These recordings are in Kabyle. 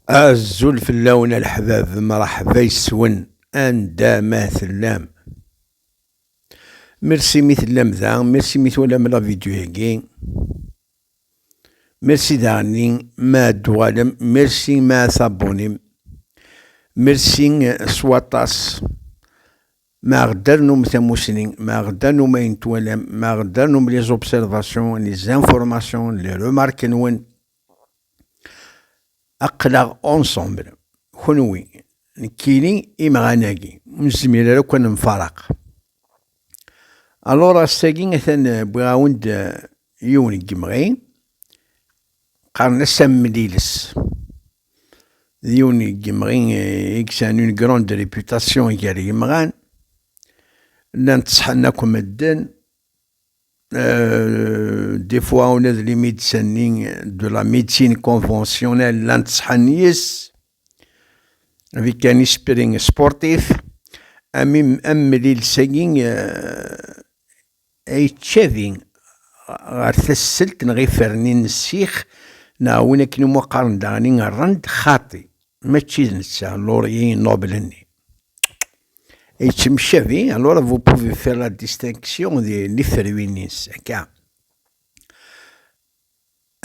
Azul fell-awen a leḥbab, mṛeḥba yes-wen anda ma tellam. Merci mi tellam da, merci mi twalam la vidéo-agi. Merci daɣen ma ad d-tuɣalem, merci ma ad tabunim. Merci s waṭas Ma ɣedder num tamusni, ma ɣedder num ayen twalam, ma ɣedder num les observations, les informations, les remarques nwen, aql-aɣ ensemble, kenwi, nekkini, imɣan-agi, ur nezmir ara akk ad nemfaraq. Alors ass-agi atan wwiɣ-awen-d yiwen n yemɣi, qqaren-as amliles. d yiwen n yimɣi i yesɛan une grande réputation gar yimɣan, llan ttṣeḥḥan akk medden, des fois ula d les médecins-nni de la médecine conventionnelle llan ttṣeḥḥan yes-s, avec un esprit sportif, amellil-sagi Yettcabi ɣer tasselt neɣ ifernin n ssix neɣ win akken umi qqaren daɣen i rrand, xaṭi, mačči d netta Laurie Nobel-nni. Yettemcabi, alors vous pouvez faire la distinction di tiferwin-is akka.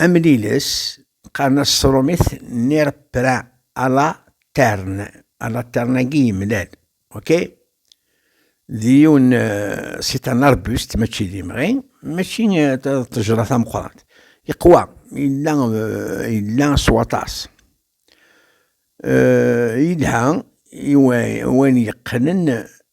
Amliles, qqaren-as s trumit nirpra ala tern, ala tern-agi yemlal, ok? D yiwen si tan arbust, mačči d imɣi, mačči d ṭejra tameqqrant. Yeqwa, yella, yella s waṭas. Yelha i wayen yeqqnen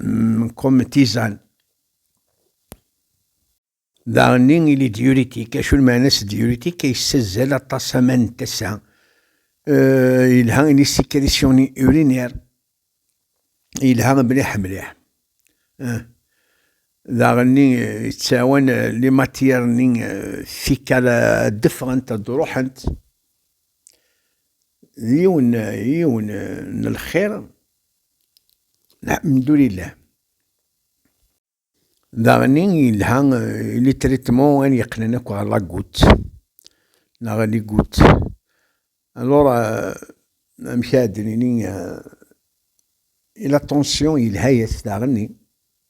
mm, comme tisane. Daɣenni il est diurétique, acu lmeɛna-s diurétique ay yessazzal aṭas aman n tasa. Yelha il est sécrétion urinaire. Yelha mliḥ mliḥ. Daɣenni yettɛawan les matières-nni fika ad d-ffɣent ad d-ruḥent. yiwen yiwen n lxir alhamdulillah daɣen yelha li traitement an yeqqnen akk ɣer la goutte neɣ li goutte alors amek ara d-nini la tension yelha-yas daɣen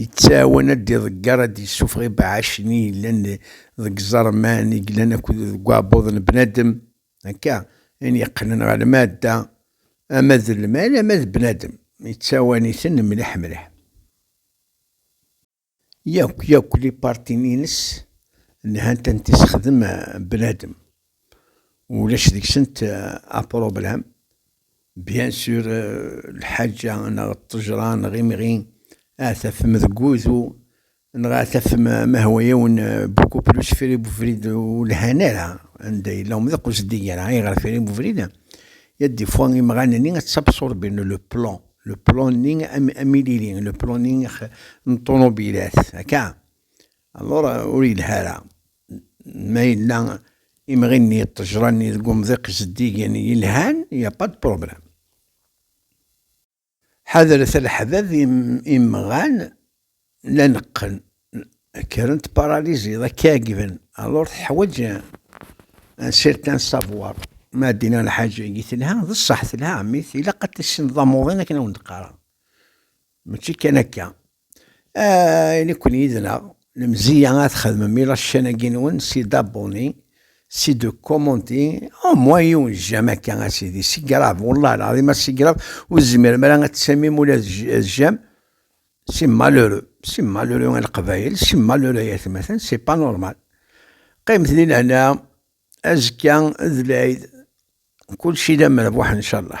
Yettɛawan ad d-iḍegger, ad d-yessufeɣ ibeɛɛacen i yellan deg iẓerman i yellan akked deg uɛebbuḍ n bnadem, akka, ayen yeqqnen ɣer lmadda, ama d lmal ama d bnadem, yettɛawan-iten mliḥ mliḥ. Yakk yakk lipartin-ines lhant anta i s-ixdem bnadem. ulac deg-sent apṛublam. Euh, Bien sûr, euh, lḥaǧa neɣ ṭṭejṛa neɣ imɣi ad tafem deg wudu neɣ ad tafem ma hwa yiwen euh, beaucoup plus firi buvrid ur lhan ara anda yella umḍiq ur zeddiger ara. Ayɣer firi buvrid? Ya des fois imɣan-nni ad tabṣurbin le plan, le plan-nni am, am ilili, le plan-nni n ṭunubilat, akka. Alor, ur yelha ara ma yella imɣi-nni d ṭejra-nni deg umḍiq zeddigen yelhan, il n'y a pas de problème. Ḥadret a leḥbab imɣan la neqqen, kkren tparalysiḍ, ad k-ɛeggben, alor teḥwaǧ un certain savoir. Ma d-inna lḥaǧ agi telha, d ṣṣeḥ telha, mais ilaq ad tissineḍ amuḍin akken a wen-d-qqareɣ, mačči kan akka. Ah, i nekni yid-neɣ, lemziya ad txedmem ilaccan-agi-nwen s idabuni, s idukumunti, au moins yiwen jjam akka a sidi, si grave, wallah lɛadim a si grave, ur tezmirem ara ad tsamim ula d jjam, c'est malheureux, c'est malheureux a leqbayel, c'est malheureux ay atmaten, c'est pas normal. Qqimet di lehna, azekka d lɛid, kulci d amerbuḥ incallah.